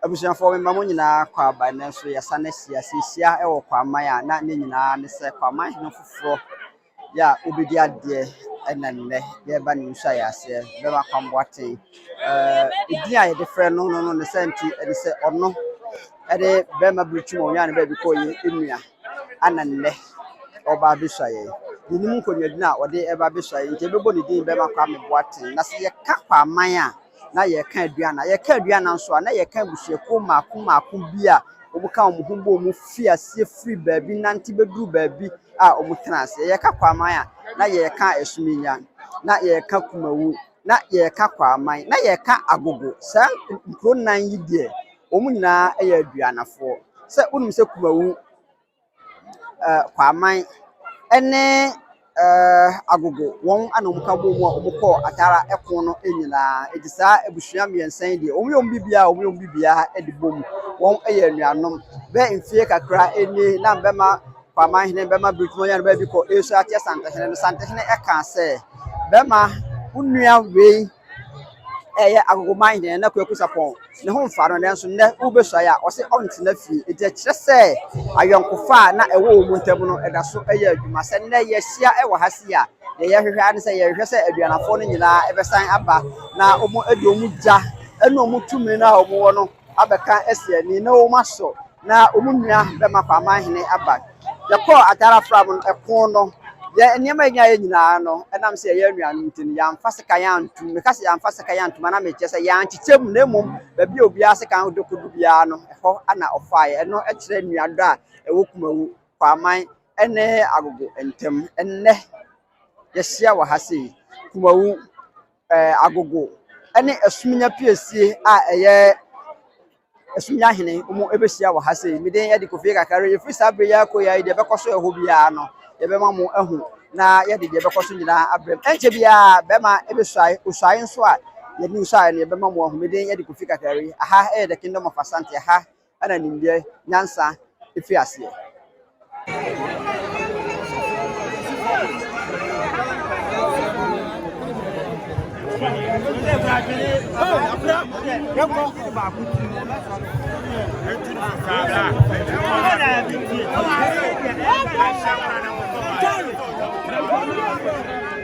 Abusuafoɔ mema mo nyinaa kɔ aba nnɛ nso yɛsane ahyia seehyia wɔ kwaman a na ne nyinaa ne sɛ kwaman hene foforɔ yɛ a wobɛdi adeɛ ɛna nnɛ yɛreba ne nso ayɛ aseɛ bɛma kwamboaten ɛdin a yɛde frɛ no no no ne sɛ nti ɛne sɛ ɔno ɛne bɛma berɛtwum ɔnyaa ne baabi kɔ yɛ nnua ɛna nnɛ ɔreba abɛsua yɛn. Yɛnim nkɔnuadini a ɔde reba abɛsua yɛn nti yɛbɛbɔ ne din bɛma Kwame Boateng. Na sɛ yɛka Kwaaman a, na yɛreka Aduana. Yɛka Aduana nso a, na yɛreka abusuakuo mmaako mmaako bi a wɔka wɔn ho bom fi aseɛ firi baabi nante bɛduru baabi a wɔtena aseɛ. Yɛka Kwaaman a, na yɛreka Asuminya, na yɛreka Kumawu. na yɛka Kwaaman, na yɛka Agogo. Saa nkuro nnan yi deɛ, wɔn nyinaa yɛ Aduanafoɔ. Sɛ wonim sɛ Kumawu, ɛɛ Kwaaman ne ɛɛ Agogo, wɔn na wɔka bɔ mu a wɔkɔ Atara ɛko no nyinaa. Ɛnti saa abusua mmiɛnsa yi deɛ, wɔyɛ wɔn biribiara a, wɔyɛ wɔn biribiara de bɔ mu. Wɔyɛ anuanom. Bɛyɛ mfeɛ kakra nie na bɛma. Kwaaman hene bɛma bere tumi ɔyɛ no baabi kɔ ɛresu ateɛ Santehene no. Santehene ɛkaa sɛ, Bɛma wo nua wei ɛyɛ agogoman hene na Kwaku Sapɔn ne ho mfa no nanso nnɛ wobɛsuae a ɔse ɔntena fie. Enti ɛkyerɛ sɛ ayɔnkofa a na ɛwɔ wɔn ntam no ɛda so ɛyɛ adwuma. Sɛ nnɛ yɛahyia ɛwɔ ha sei a, deɛ yɛhwehwɛ ara ne sɛ yɛhwehwɛ sɛ aduanafoɔ no nyinaa ɛbɛsan aba na wɔn ɛde wɔn gya ɛne wɔn tumi no a wɔwɔ no abɛka asi ani na wɔasɔ na wɔn nua bɛma kɔ ama hene aba. Yɛkɔɔ ataar afram no ɛko no, yɛn nneɛma a yɛnyaeɛ nyinaa no, ɛnam sɛ yɛyɛ anuanom nti no, yɛamfa sekan antom. Meka sɛ yɛamfa sekan antom a, na mekyerɛ sɛ yɛankyekyɛ mu, na mmom baabi a obiara sekan de kɔdu biara no, ɛhɔ na ɔfaeɛ. Ɛno kyerɛ nuadɔ a ɛwɔ Kumawu, Kwaaman ne Agogo ntam. Ɛnnɛ, yɛahyia wɔ ha sei, Kumawu. ɛɛ agogo ne asumnya piesie a ɛyɛ asumnya hene wɔbɛhyia wɔ ha sei. Me din yɛ de Kofi Kakari. Ɛfiri saa berɛ yi ara kɔ yi ara deɛ ɛbɛkɔ so ɛhɔ biara no, yɛbɛma mo ahu na yɛde deɛ ɛbɛkɔ so nyinaa abrɛ mu. Ɛnkyɛ biara bɛrima ɛbɛsuae, osuae nso a yɛde nsuae no yɛbɛma mo ahu. Me din yɛ de Kofi Kakari. Aha yɛ The Kingdom of Asante. Aha na nimdeɛ, nyansa, fi aseɛ.